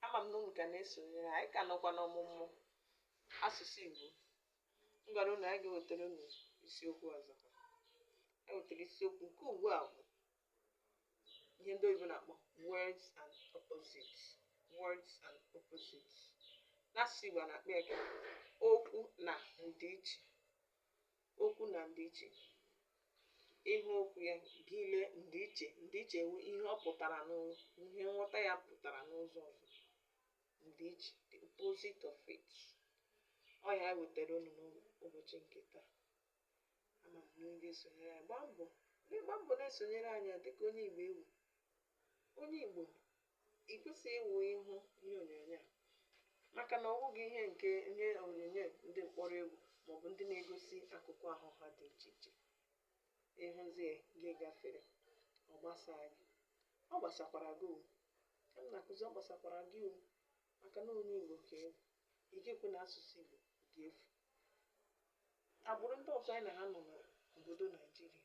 ama m na unu ka na-esonyere anyị ka nọkwa n'ọmụmụ asụsụ Igbo m gwara unu anyị ga-ewetara unu isiokwu ọzọ anyị wetara isiokwu nke ugbu a wụ ihe ndị oyibo na-akpọ words and opposites words and opposites n'asụsụ Igbo a na-akpọ ya ka okwu na ndịiche Okwu na ndịiche. Ị hụ okwu ya gị lee ndịiche ndịiche wụ ihe ọ pụtara n'ụzọ ihe nghọta ya pụtara n'ụzọ ọzọ ndịiche the opposite of it ọ ya wetara unu n'ụbọchị nke taa ama m na unu ga-esonyere anyị gbaa mbọ gbaa mbọ na-esonyere anyị dịka onye igbo ị wụ onye igbo ị kwesịghị ịwụ ịhụ ihe onyonyo a maka na ọ wụghị ihe nke ihe onyonyo ndị mkpọrọ egwu maọbụ ndị na-egosi akụkụ ahụ ha dị iche iche ị hụzie gị gafere ọ gbasaa gị ọ gbasakwara gị o ka m na-akụzi ọ gbasakwara gị o maka na onye Igbo ka ị wụ ị ga-ekwe na asụsụ Igbo ga-efu agbụrụ ndị ọzọ anyị na ha nọ n'obodo Naijiria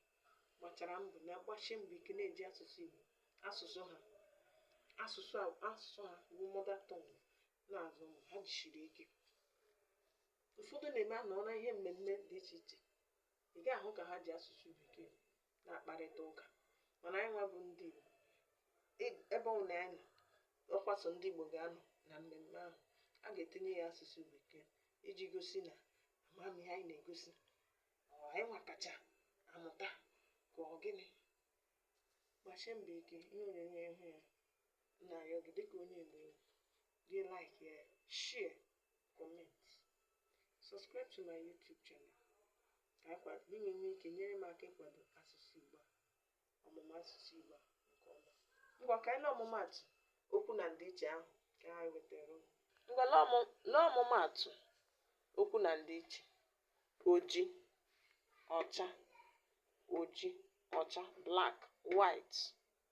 gbachara mbọ na-agbasi mbọ ike na-eji asụsụ Igbo asụsụ ha asụsụ asụsụ ha wụ mother tongue na-azụ ụmụ ha jisiri ike ụfọdụ na-eme a nọ na ihe mmemme dị iche iche ị ga-ahụ ka ha ji asụsụ bekee na-akparịta ụka mana anyị nwa wụ ndị Igbo e- ebe ọ wụ na anyị ọ kwa sọ ndị Igbo ga-anọ na mmemme ahụ a ga-etinye ya asụsụ bekee iji gosi na amamihe anyị na-egosi anyị nwa kacha amụta ka ọ gịnị gbasie mbọ ike ihe onyonyo ị hụ ya na-arịọ gị dịka onye Igbo gị like ya share comment subscribe to my youtube channel ka akwa gị na enwe ike nyere m aka ịkwado asụsụ igbo a ọmụmụ asụsụ igbo a nke ọma ngwa ka anyị lee ọmụmaatụ okwu na ndịiche ahụ ka anyị wetara unu. ngwa lee ọmụ- lee ọmụmaatụ okwu na ndịiche oji ọcha oji ọcha black white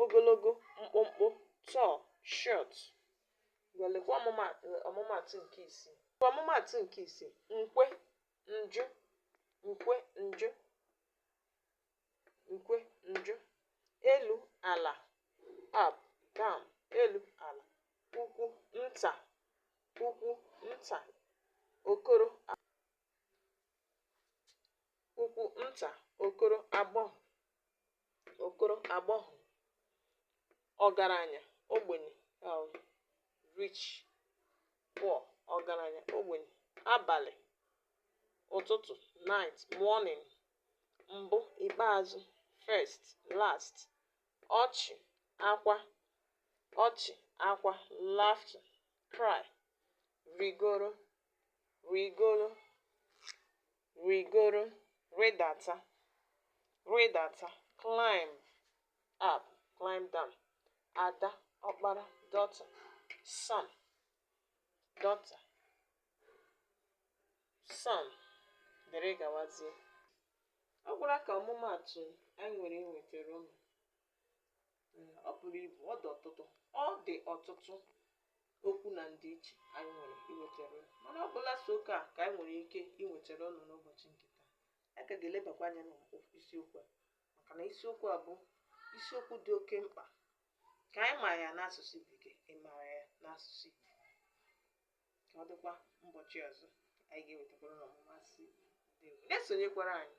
ogologo mkpụmkpụ tall short ngwa lekwa ọmụma ọmụmaatụ nke isii ngwa ọmụmaatụ nke isii nkwe njụ nkwe njụ nkwe njụ elu ala up down elu ala ukwu nta ukwu nta okoro a- ukwu nta okoro agbọghọ okoro agbọghọ ọgaranya ogbenye um, rich poor ọgaranya ogbenye abalị ụtụtụ night morning mbụ ikpeazụ first last ọchị akwa ọchị akwa laughter cry rịgoro rịgoro rịgoro, rịdata, rịdata, climb up, climb down, ada, ọkpara, daughter, son, daughter, son, dịrị gawazie. Ọ gwụla ka ọmụmaatụ anyị nwere iwetara unu. Ee, ọ buru ibu ọ dị ọtụtụ ọ dị ọtụtụ okwu na ndịiche anyị nwere iwetara unu mana ọ bụla sọ nke a ka anyị nwere ike iwetara unu n'ụbọchị nke taa anyị ka ga-elebakwa anya n'isiokwu a maka na isiokwu a bụ isiokwu dị oke mkpa ka anyị mara ya n'asụsụ bekee ị mara ya n'asụsụ igbo ka ọ dịkwa ụbọchị ọzọ anyị ga-ewetakwara unu ọmụmụ asụsụ igbo Ndewo. na-esonyekwara anyị